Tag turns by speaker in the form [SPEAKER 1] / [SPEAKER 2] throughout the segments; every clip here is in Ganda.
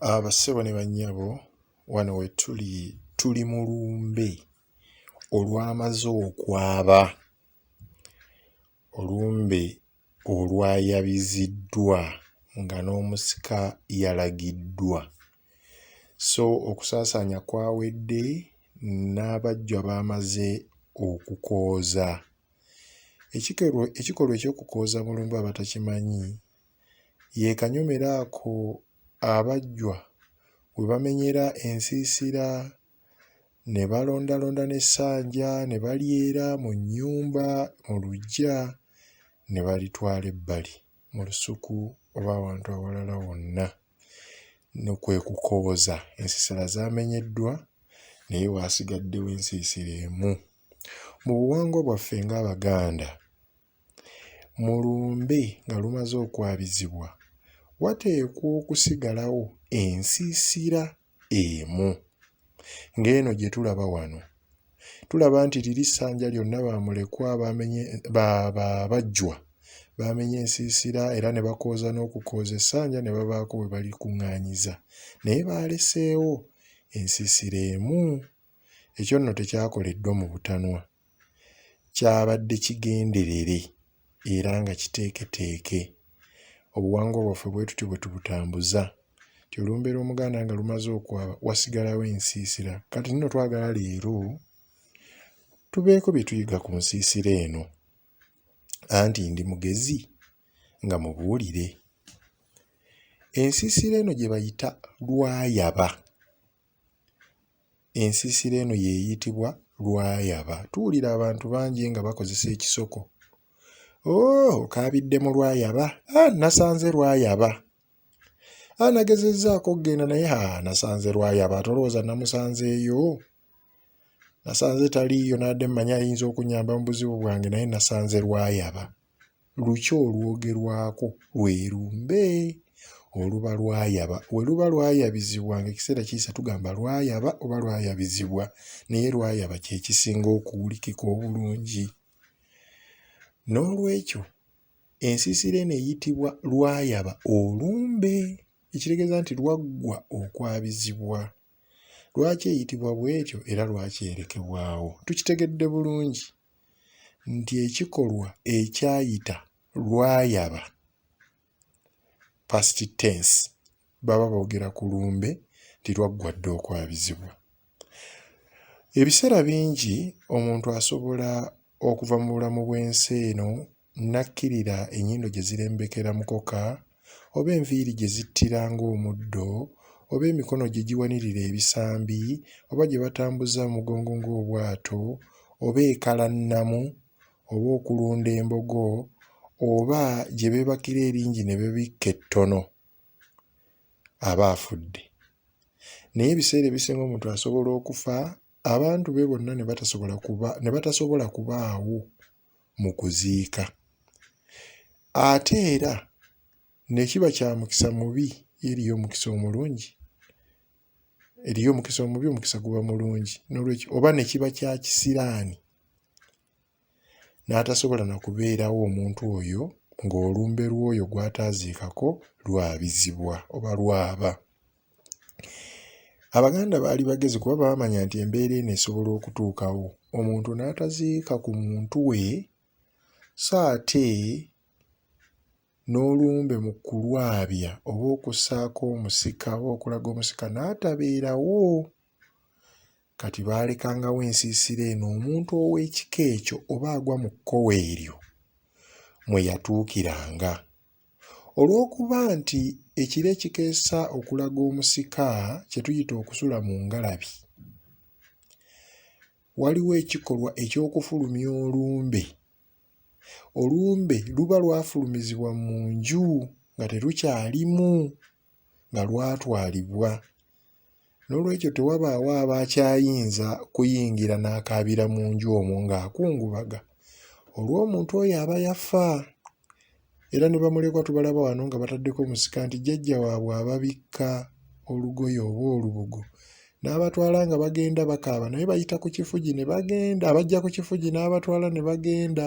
[SPEAKER 1] Abassebo ne bannyabo wano we tuli tuli mu lumbe olwamaze okwaba. Olumbe olwayabiziddwa nga n'omusika yalagiddwa. So okusaasaanya kwawedde n'abajjwa baamaze okukooza. Ekikolwa eky'okukooza mu lumbe abatakimanyi ye kanyomero ako abajjwa we bamenyera ensiisira ne balondalonda n'essanja ne balyera mu nnyumba mu luggya ne balitwala ebbali mu lusuku oba awantu awalala wonna no kwe kukoboza ensisira zaamenyeddwa naye waasigaddewo ensiisira emu. Mu buwangwa bwaffe ng'Abaganda Mu lumbe nga lumaze okwabizibwa, wateekwa okusigalawo ensiisira emu ng'eno gye tulaba wano. Tulaba nti liri ssanja lyonna ba mulekwa abajjwa baamenya ensiisira era ne bakooza n'okukooza essanja ne babaako we balikuŋŋaanyiza, naye baaleseewo ensiisira emu. Ekyo nno tekyakoleddwa mu butanwa. Kyabadde kigenderere era nga kiteeketeeke. Obuwangwa bwaffe bwe tutyo bwe tubutambuza. Nti olumbeera Omuganda nga lumaze okwaba wasigalawo ensiisira. Kati nno twagala leero tubeeko bye tuyiga ku nsiisira eno. Anti ndi mugezi nga mubuulire. Ensiisira eno gye bayita Lwayaba. Ensiisira eno y'eyitibwa Lwayaba. Tuwulira abantu bangi nga bakozesa ekisoko. Oh, okaabidde mu Lwayaba? Ah, nasanze Lwayaba. Ah, nagezezzaako okugenda naye ha nasanze Lwayaba. Tolowooza namusanzeeyo? Nasanze taliiyo n'adde mmanyi ayinza okunyamba mu buzibu bwange naye nasanze Lwayaba. Luki olwogerwako lwe lumbe oluba lwayaba. We luba lwayabizibwa ng'ekiseera kiyise tugamba lwayaba oba lwayabizibwa naye lwayaba kye kisinga okuwulikika obulungi. N'olwekyo ensiisira eno eyitibwa lwayaba olumbe ekitegeeza nti lwaggwa okwabizibwa. Lwaki eyitibwa bw'etyo era lwaki erekebwawo? Tukitegedde bulungi nti ekikolwa ekyayita lwayaba, past tense, baba boogera ku lumbe nti lwaggwa dda okwabizibwa. Ebiseera bingi omuntu asobola okuva mu bulamu bw'ensi eno Nnakkirira ennyindo gye zirembekera mukoka, oba enviiri gye zittira ng'omuddo, oba emikono gye giwanirira ebisambi, oba gye batambuza mu mugongo ng'obwato, oba ekalannamu, oba okulunda embogo, oba gye beebakira eringi ne babikka ettono, aba afudde. Naye ebiseera ebisinga omuntu asobola okufa abantu be bonna ne batasobola kubaawo. mu kuziika. Ate era ne kiba kya mukisa mubi, yo eriyo omukisa omulungi? Eriyo omukisa omubi, omukisa guba mulungi. Noolwekyo oba ne kiba kya kisiraani n'atasobola na kubeerawo omuntu oyo ng'olumbe lw'oyo gw'ataaziikako lwabizibwa oba lwaba. Abaganda baali bagezi kuba baamanya nti embeera eno esobola okutuukawo omuntu n'ataziika ku muntu we so ate n'olumbe mu kulwabya oba okussaako omusika oba okulaga omusika n'atabeerawo kati baalekangawo ensiisira eno omuntu ow'ekika ekyo oba agwa mu kkowe eryo mwe yatuukiranga. Olw'okuba nti ekiro ekikeesa okulaga omusika kye tuyita okusula mu ngalabi, waliwo ekikolwa eky'okufulumya olumbe. Olumbe luba lwafulumizibwa mu nju nga terukyalimu. nga lwatwalibwa n'olwekyo tewabaawo aba akyayinza kuyingira n'akaabira mu nju omwo ng'akungubaga olw'omuntu oyo aba yafa era ne bamulekwa tubalaba wano nga bataddeko omusika nti jjajja waabwe ababikka olugoye oba olubugo n'abatwala nga bagenda bakaaba naye bayita ku kifugi ne bagenda abajja ku kifugi n'abatwala ne bagenda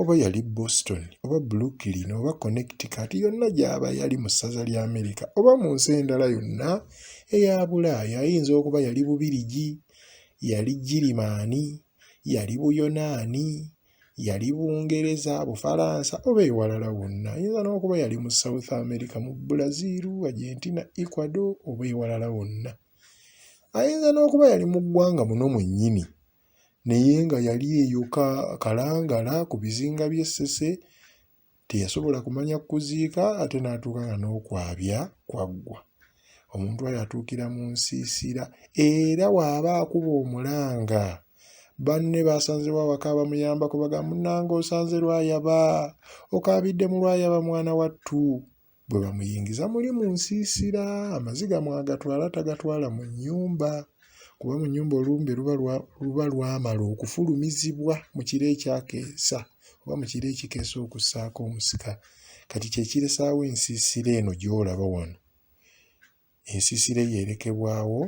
[SPEAKER 1] oba yali Boston oba Brooklyn oba Connecticut yonna gy'aba yali mu ssaza lya Amerika oba mu nsi endala yonna eya Bulaaya ayinza okuba yali Bubirigi, yali Girimaani, yali Buyonaani, yali Bungereza, Bufalansa oba ewalala wonna. Ayinza n'okuba yali mu South America mu Brazil, Argentina, Ecuador oba ewalala wonna. Ayinza n'okuba yali mu ggwanga muno mwennyini. naye nga yali eyo kalangala ku bizinga by'e Ssese teyasobola kumanya kuziika ate n'atuuka nga n'okwabya kwaggwa omuntu oyo atuukira mu nsiisira era waaba akuba omulanga banne baasanzewo awaka abamuyamba kubaga munange osanze lwayaba okaabidde mu lwayaba mwana wattu Bwe bamuyingiza muli mu nsiisira, amaziga mwagatwala tagatwala mu nnyumba kuba mu nnyumba olumbe luba lwamala okufulumizibwa mu kiro ekyakeesa oba mu kiro ekikeesa okussaako omusika kati kye kiresaawo ensiisira eno gy'olaba wano. ensisira eyo erekebwawo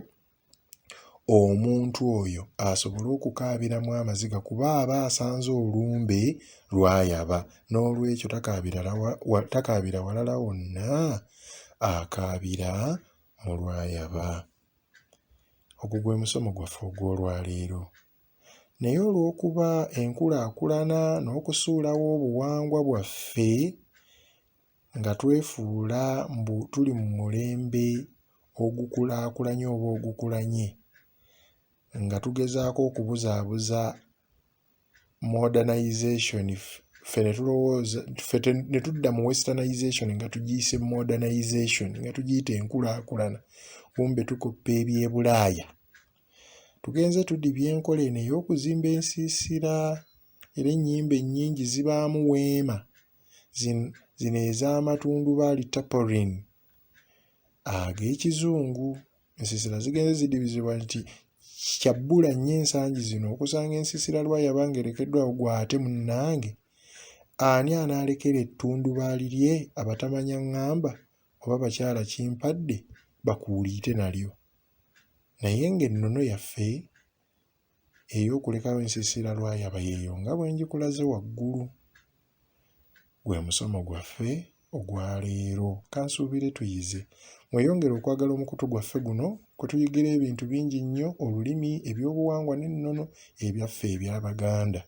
[SPEAKER 1] omuntu oyo asobole okukaabiramu amaziga kuba aba asanze olumbe lwayaba n'olwekyo takaabira walala wonna akaabira mu lwayaba ogwo gwe musomo gwaffe ogw'olwaleero naye olw'okuba enkulaakulana n'okusuulawo obuwangwa bwaffe nga twefuula mbu tuli mu mulembe ogukulaakulanye oba ogukulanye nga tugezaako okubuzaabuza modernisation ffe ne tulowooza ffe ne tudda mu westernisation nga tugiyise modernisation nga tugiyita enkulaakulana kumbe tukoppa eby'ebulaaya tugenze tudibya enkola eno ey'okuzimba ensiisira era ennyimba ennyingi zibaamu weema zino ez'amatundubaali tapering ag'ekizungu. Ensiisira zigenze zidibizibwa nti kya bbula nnyo ensangi zino okusanga ensiisira lwa yaba ng'erekeddwawo gwe ate munnange ani anaalekera ettundubaali lye abatamanya ŋŋamba oba bakyala kimpadde bakuuliite nalyo naye ng'ennono yaffe ey'okulekawo ensiisira lwayaba yeeyo nga bwe ngikulaze waggulu. Gwe musomo gwaffe ogwa leero. Kansuubire tuyize. Mweyongere okwagala omukutu gwaffe guno kwe tuyigira ebintu bingi nnyo olulimi, ebyobuwangwa n'ennono ebyaffe eby'Abaganda.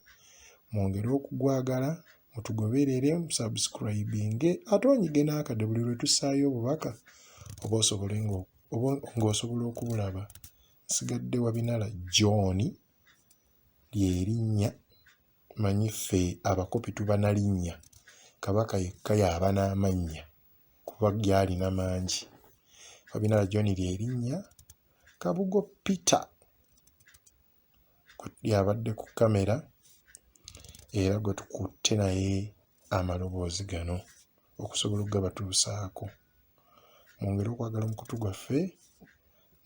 [SPEAKER 1] Mwongere okugwagala, mutugoberere, musubscribinge ate onyige n'akade buli lwe tussaayo obubaka oba osobole ng'osobola okubulaba. Nsigadde Wabinala John lye linnya manyi ffe abakopi tuba na linnya Kabaka yekka y'aba n'amannya kuba ge alina mangi. Wabinala John lye linnya, Kabugo Peter y'abadde ku kkamera era gwe tukutte naye amaloboozi gano okusobola okugabatuusaako. mwongere okwagala omukutu gwaffe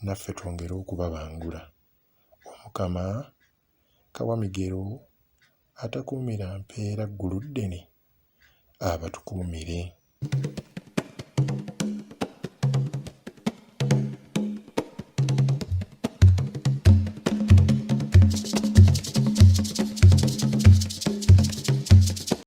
[SPEAKER 1] naffe twongere okubabangula omukama kawamigero atakuumira mpeera ggulu ddene abatukuumire